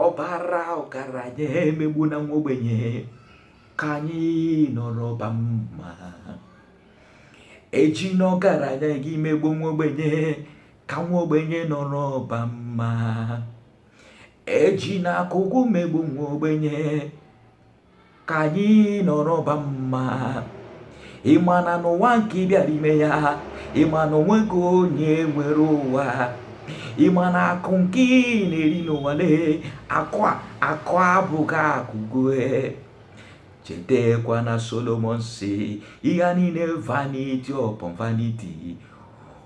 ọ bara ọgaranya emegbuna nwa ogbenye ka anyị nọrọba mma ejina ọgaranya gị megbu nwa ogbenye ka nwa ogbenye nọrọba mma ejina akụ gị megbu nwa ogbenye ka anyị nọrọba mma ị ma na n'ụwa nke ị bịara ime ya ị ma na o nweghị onye nwere ụwa ị ma na akụ nke ị na-eri n'ụwa lee akụ a akụ abụghị akụ gị e chetakwa na solomon sị ihe niile vanity upon vanity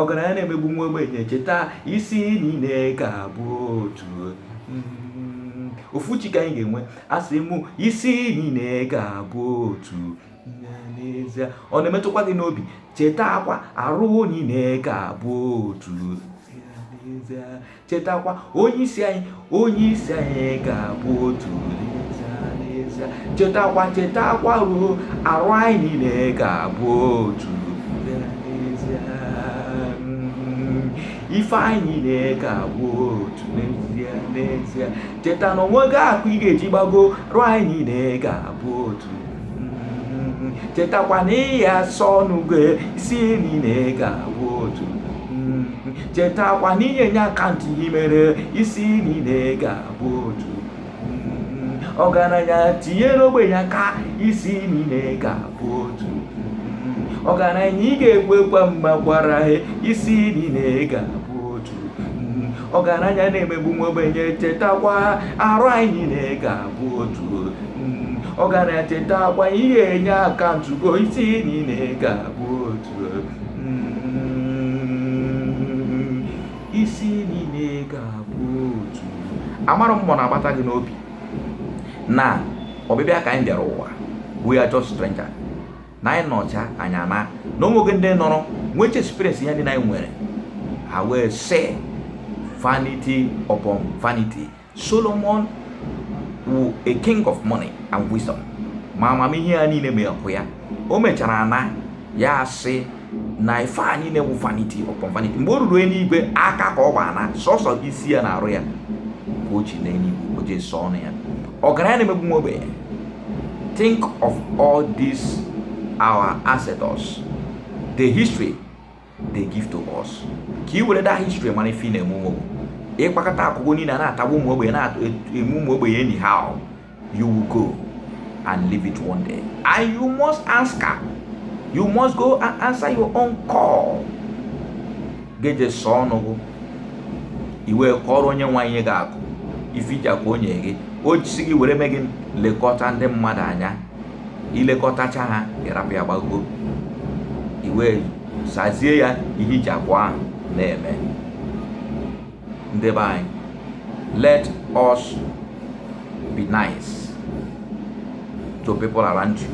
ọgaranya na-emegbu nwa ogbenye cheta isi niile ka bụ otu mm, ofu chi ka anyị ga-enwe asị m isi niile ka bụ otu n'ezie ọ na-emetụkwa gị n'obi chetakwa arụ niile ka bụ otu chetakwa onye isi anyị onye isi anyị ga-abụ otu chetakwa chetakwa ruo arụ anyị niile ga-abụ otu ife anyị niile ga-abụ otu n'ezie n'ezie cheta na o nweghị akụ ị ga-eji gbago arụ anyị niile ga-abụ otu chetakwa na ị ya-asa ọnụ gị isi niile ga-abụ otu chetakwa na ị ya-enye akaụntụ ihe i mere isi niile ga-abụ otu ọgaranya tinyere ogbenye aka isi niile ga-abụ otu ọgaranya ị ga-ekwekwa mma gwara ha isi niile ga-abụ otu ọgaranya na-emegbu nwa ogbenye chetakwa arụ anyị niile ga-abụ otu ọgaranya chetakwa ị ya-enye akaụntụ gị o isi niile ga-abụ otu isi niile ga-abụ otu amara m mmụọ na-agbata gị n'obi na ọbịbịa ka anyị bịara ụwa we are just stranger na anyị nọcha anyị anaa na o nweghị ndị nọrọ nweecha experience ihe ndị anyị nwere ha wee sị vanity upon vanity Solomon wụ a king of money and wisdom ma amamihe ya niile ma akụ ya o mechara naa ya asị na ife a niile wụ vanity upon vanity mgbe o ruru eluigwe aka ka ọ gba naa sọsọ isi ya na arụ ya ka o ji naa eluigwe o je saa ọnụ ya ọgaranya na-emegbu nwa ogbenye think of all these our ancestors the history they give to us ka i were that history mana ife na-eme eme wụ ị kpakọta akụ gụ niile na-atagbu ụmụ ogbenye na-eme ụmụ ogbenye anyhow you will go and leave it one day and you must answer you must go and answer your own call geje sọ ọnụ gụ i wee kọọrọ onye nyere gị akụ ife i ji akụ o nye gị o jisi gị were mee gị lekọta ndị mmadụ anya i lekọtacha ha ị rapụ ya gbago i wee sazie ya ihe i ji akụ ahụ na-eme ndị be anyị let us be nice to people around you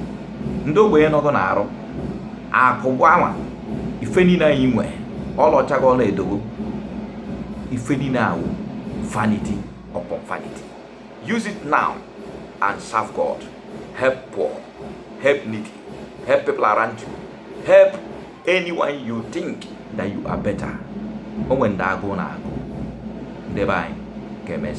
ndị ogbenye nọ gụ n'arụ akụ gụ anwa ife niile anyị nwe ọlaọcha gị ọla edo gụ ife niile a wụ vanity upon vanity use it now and serve god help poor help needy help people around you help anyone you think that you are better o nwere ndị agụụ na-agụ ndị be anyị ka emesịa